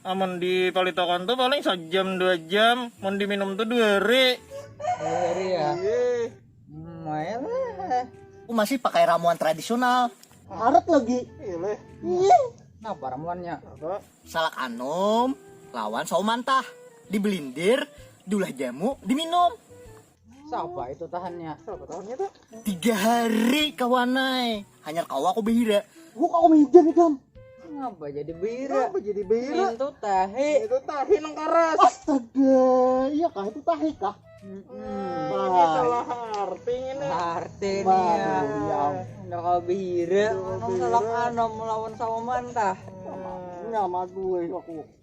Amun di palitakan tu paling sajam dua jam, mun di minum tu dua hari. Dua hari ya. Lumayan lah. Aku masih pakai ramuan tradisional. Karat lagi. Iya. Napa ramuannya? Salak anum lawan sawo mantah, dibelindir, diulah jamu, diminum. Siapa itu tahannya? Siapa tahannya tuh? Tiga hari kawanai. Hanya kau aku behira. Gua kau meja nih dam. Ngapa jadi behira? Ngapa jadi behira? Itu tahi. Itu tahi nang karas. Astaga, iya kah itu tahi kah? Hmm, ini salah arti ini. Arti ini ya. ya. Udah kau behira, nang salah anom melawan sama mantah. Sama gue aku.